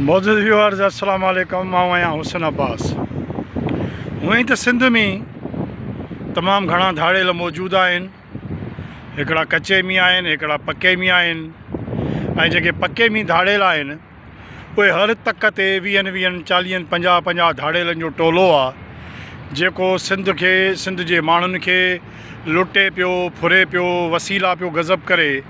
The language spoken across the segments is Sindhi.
معزز ويورز السلام عليڪم مان آهيان حسن عباس هونئن ته سنڌ ۾ تمام گهڻا ڌاڙيل موجود آهن هڪڙا ڪچي مي آهن هڪڙا پڪي مي آهن ۽ جيڪي پڪي مي ڌاڙيل آهن اهي هر تڪ تي ويهن ويهن چاليهن پنجاهه پنجاهه ڌاڙيلن جو ٽولو آهي جيڪو سنڌ کي سنڌ جي ماڻهن کي لٽي پيو ڦري پيو وسيلا پيو غضب ڪري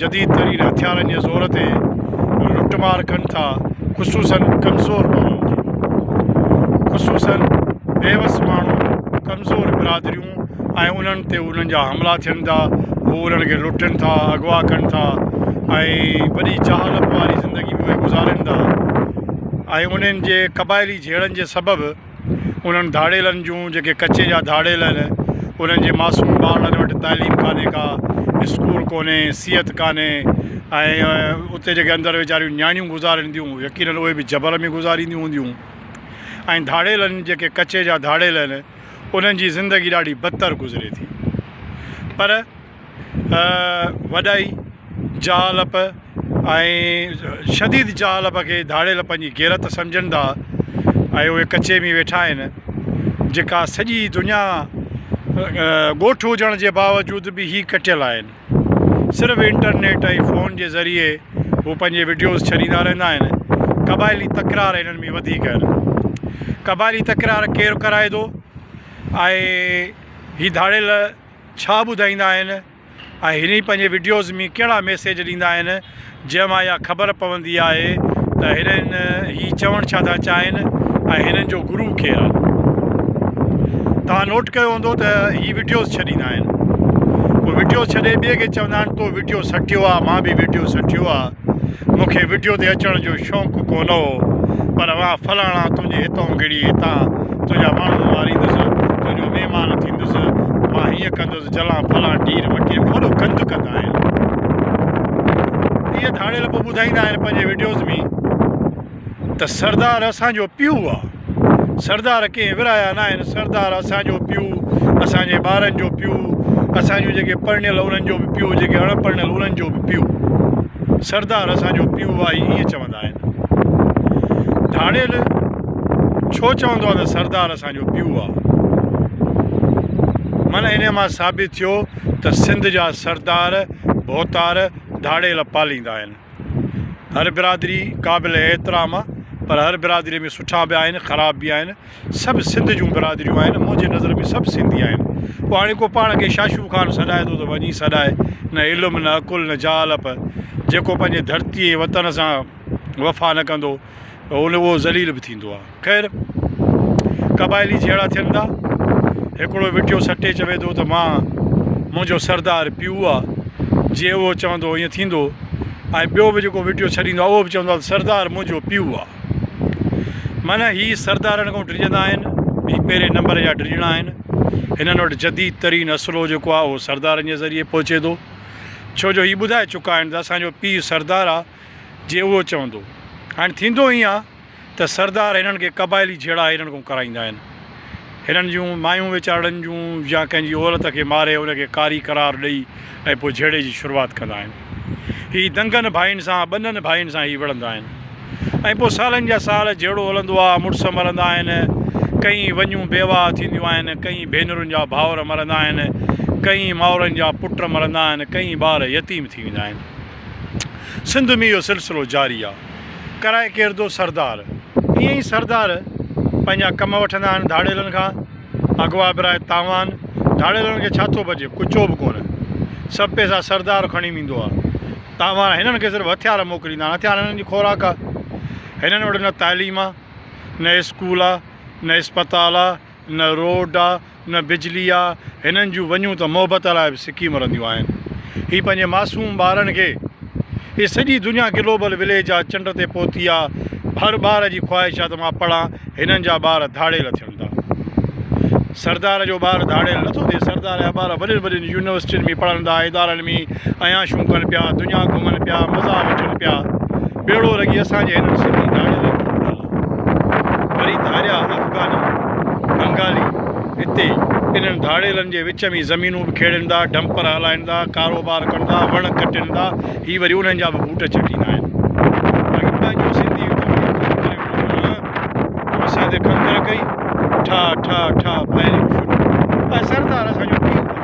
جديد ترين هٿيارن جي زور تي لٽ مار ڪن ٿا خصوصاً ڪمزور ماڻهن جي خصوصاً بيوس ماڻهو ڪمزور برادريون ۽ انهن تي انهن جا حملا ٿين ٿا هو انهن کي لٽن ٿا اغوا ڪن ٿا ۽ وڏي جهالت واري زندگي به اهي گذارين ٿا ۽ انهن جي قبائلي جهيڙن جي سبب انهن ڌاڙيلن جون جيڪي ڪچي جا ڌاڙيل آهن انهن جي معصوم ٻارڙن وٽ تعليم ڪانهي ڪا اسڪول ڪونهي صحت ڪانهي ۽ اتي جيڪي اندر ويچاريون نياڻيون گذارين ٿيون يقينن اهي به جبر ۾ گذارينديون هونديون ۽ ڌاڙيلن جيڪي ڪچي جا ڌاڙيل آهن انهن جي زندگي ڏاڍي بدتر گذري ٿي پر وڏائي جهالپ ۽ شديد جهالپ کي ڌاڙيل پنهنجي غيرت سمجهن ٿا ۽ اهي ڪچي ۾ ويٺا آهن جيڪا سڄي دنيا ڳوٺ هجڻ جي باوجود به هي ڪٽيل آهن صرف انٽرنيٽ ۽ فون جي ذريعي هو پنهنجي وڊيوز ڇڏيندا رهندا آهن قبائلي تڪرار هنن ۾ وڌيڪ آهن قبائلي تڪرار ڪير ڪرائي ٿو ۽ هي ڌاڙيل ڇا ٻڌائيندا آهن ۽ هني پنهنجي وڊيوز مين ڪهڙا ميسيج ڏيندا آهن جنهن مان اها خبر پوندي آهي ته هنن هي چوڻ ڇا ٿا چاهين ۽ هنن جو گرو ڪير آهي توهان نوٽ ڪيو هوندو ته هي وڊيوز ڇڏيندا آهن پوء وڊيوز ڇڏي ٻئي کي چوندا آهن تو وڊيو سٺيو آهي مان به وڊيو سٺيو آهي مون کي وڊيو تي اچڻ جو شونق ڪو نه هو پر اوهان فلاڻا تنهنجي هتئون گڙي هتان تنهنجا ماڻهو ماريندس تنهنجو مهمان ٿيندس مان هيئن ڪندس جلان فلان ڍير وڪيل به وڏو گند ڪندا آهن اهي ڌاڙيل پوء ٻڌائيندا آهن پنهنجي وڊيوز ۾ ته سردار اسان جو پيو آ. سردار ڪنهن ورهايا ناهن، سردار اسان جو پيو، اسان جي ٻارن جو پيو، اسان جون جيڪي پرڻيل انهن جو به پيو، جيڪي اڻ پرڻيل انهن جو به پيو. سردار اسان جو پيو آ، هي ائين چوندا آهن. ڌاڙيل ڇو چوندو آ ته سردار اسان جو پيو آ؟ من انهيء مان ثابت ٿيو ته سنڌ جا سردار ڀوتار ڌاڙيل پاليندا آهن. هر برادري قابل احترام آ پر هر برادري ۾ سٺا به آهن خراب به آهن سڀ سنڌ جون برادريون آهن منهنجي نظر ۾ سڀ سنڌي آهن پوء هاڻي ڪو پاڻ کي شاشو خان سڏائي ٿو ته وڃي سڏائي نه علم نه عقل نه جهالپ جيڪو پنهنجي ڌرتي وطن سان وفا نه ڪندو هونئن اهو ذليل به ٿيندو آهي. خير، قبائلي جهيڙا ٿين ٿا. هڪڙو ويٺيو سٽي چوي ٿو ته مان منهنجو سردار پيو آ، جي اهو چوندو ائين ٿيندو ۽ ٻيو به جيڪو ويٺيو ڇڏيندو آهي اهو به چوندو آهي ته سردار منهنجو پيو آ. معنيٰ هي سردارن کان ڊڄندا آهن. هي پهرين نمبر جا ڊڄڻا آهن. هنن وٽ جديد ترين اسلحو جيڪو آهي اهو سردارن جي ذريعي پهچي ٿو. ڇو جو هي ٻڌائي چڪا آهن ته اسان جو پيء سردار آ. جي اهو چوندو. هاڻ ٿيندو ائين آهي ته سردار هنن کي قبائلي جهيڙا هنن کان ڪرائيندا آهن. هنن جون مايون ويچارڙن جون يا ڪنهن جي عورت کي ماري ان کي ڪاري قرار ڏئي ۽ پوء جهيڙي جي شروعات ڪندا آهن. هي دنگن ڀائين سان ٻنهن ڀائين سان هي وڙهندا آهن ۽ پوء سالن جا سال جهيڙو هلندو آهي. مڙس مرندا آهن، ڪئين وڃون بيواهه ٿينديون آهن، ڪئين ڀينرن جا ڀائور مرندا آهن، ڪئين مائرن جا پٽ مرندا آهن، ڪئين ٻار يتيم ٿي ويندا آهن. سنڌ ۾ اهو سلسلو جاري آ. ڪرائي ڪيردو سردار. ائين ئي سردار پنهنجا ڪم وٺندا آهن ڌاڙيلن کان. اغوا برائي تاوان. ڌاڙيلن کي ڇا ٿو بچي؟ ڪچو به ڪونه. سڀ پئسا سردار کڻي ويندو آ. تاوان هنن کي صرف هٿيار موڪليندا آهن. هٿيار هنن جي خوراڪ آ. هنن وٽ نه تعليم آ. نه اسڪول آ. نه اسپتال آ. نه روڊ آ نه بجلي آ هنن جون وڃون ته محبت لاء به سڪي مرنديون آهن هي پنهنجي معصوم ٻارن کي هي سڄي دنيا گلوبل وليج آ چنڊ تي پهتي آ هر ٻار جي خواهش آ ته مان پڙهان هنن جا ٻار ڌاڙيل ٿين ٿا سردار جو ٻار ڌاڙيل نٿو ٿئي سردار جا ٻار وڏين وڏين يونيورسٽين ۾ پڙهن ٿا ادارن ۾ عياشون ڪن پيا دنيا گهمن پيا مزا وٺن پيا ڀيڙو رڳي اسان جي هنن سنڌي ڌاڙيل ڪڏل وري ڌاريا افغاني بنگالي هتي انهن ڌاڙيلن جي وچ ۾ زمينون به کيڙيندا ڊمپر هلائيندا ڪاروبار ڪندا وڻ ڪٽيندا هي وري انهن جا به بوٽ چٽيندا آهن باقي پنهنجو سنڌي اسان تي کنگهر ڪئي ٺا ٺا ٺا فائرنگ شروع ۽ سردار اسان جو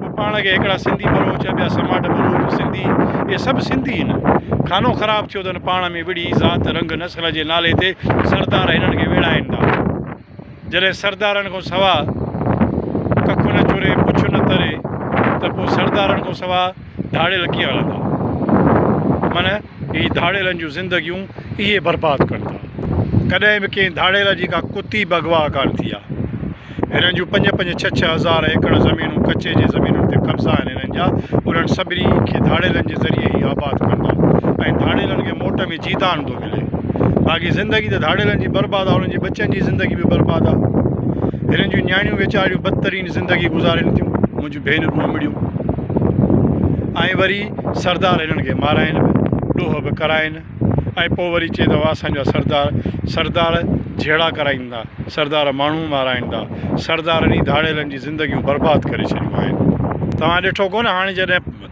ھو پاڻ کي ھيڪڙا سنڌي ٻلوچ ۽ ٻيا سماٽ ٻلوچ سنڌي اھي سڀ سنڌي ھن خانو خراب ٿيو تھ ھن پاڻ ۾ وڙھي ذات رنگ نسل جي نالي تي سردار ھنن کي ويڙھائين ٿا جڏھن سردارن کان سوا ڪک نھ چوري پڇ نھ تري تھ پوء سردارن کان سوا ڌاڙيل ڪيئن ھلندا من هي ڌاڙيلن جون زندگيون اهي برباد ڪن ٿا. ڪڏهن به ڪنهن ڌاڙيل جي ڪا ڪتي به اغوا ڪانه ٿي آ. هنن جون پنج پنج ڇهه ڇهه هزار ايڪڙ زمينون ڪچي جي زمينن تي قبضا آهن هنن جا انهن سڀني کي ڌاڙيلن جي ذريعي ئي آباد ڪن ٿا ۽ ڌاڙيلن کي موٽ ۾ جيدان ٿو ملي باقي زندگي ته ڌاڙيلن جي برباد آ انهن جي ٻچن جي زندگي به برباد آ هنن جون نياڻيون ويچاريون بدترين زندگي گذارين ٿيون. ڀينرون امڙيون ۽ وري سردار هنن کي مارائين به ڏوهه به ڪرائين ۽ پوء وري چئي ته اسان جا سردار سردار جهيڙا ڪرائيندا سردار ماڻهو مارائيندا سردارن ئي ڌاڙيلن جي زندگيون برباد ڪري ڇڏيون آهن توهان ڏٺو ڪونه هاڻي جڏهن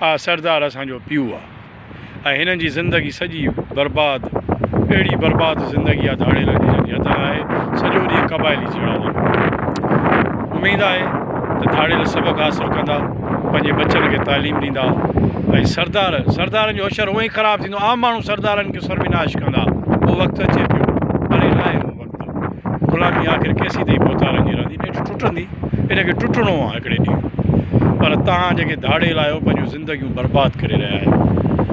آ سردار اسان جو پيو آ ۽ هنن جي زندگي سڄي برباد اهڙي برباد زندگي آ ڌاڙيلن جي جن جي حد نه آهي سڄو ڏينهن قبائلي جهيڙا ڏيندا اميد آهي ته ڌاڙيل سبق حاصل ڪندا پنهنجي ٻچن کي تعليم ڏيندا ۽ سردار سردارن جو حشر هونئن ئي خراب ٿيندو عام ماڻهو سردارن کي سرويناش ڪندا اهو وقت اچي پيو پري ناهي اهو وقت غلامي آخر ڪيسين تائين ڀوتارن جي رهندي؟ نيٺ ٽٽندي، ان کي ٽٽڻو آهي هڪڙي ڏينهن. پر توهان جيڪي ڌاڙيل آهيو، پنهنجون زندگيون برباد ڪري رهيا آهيو.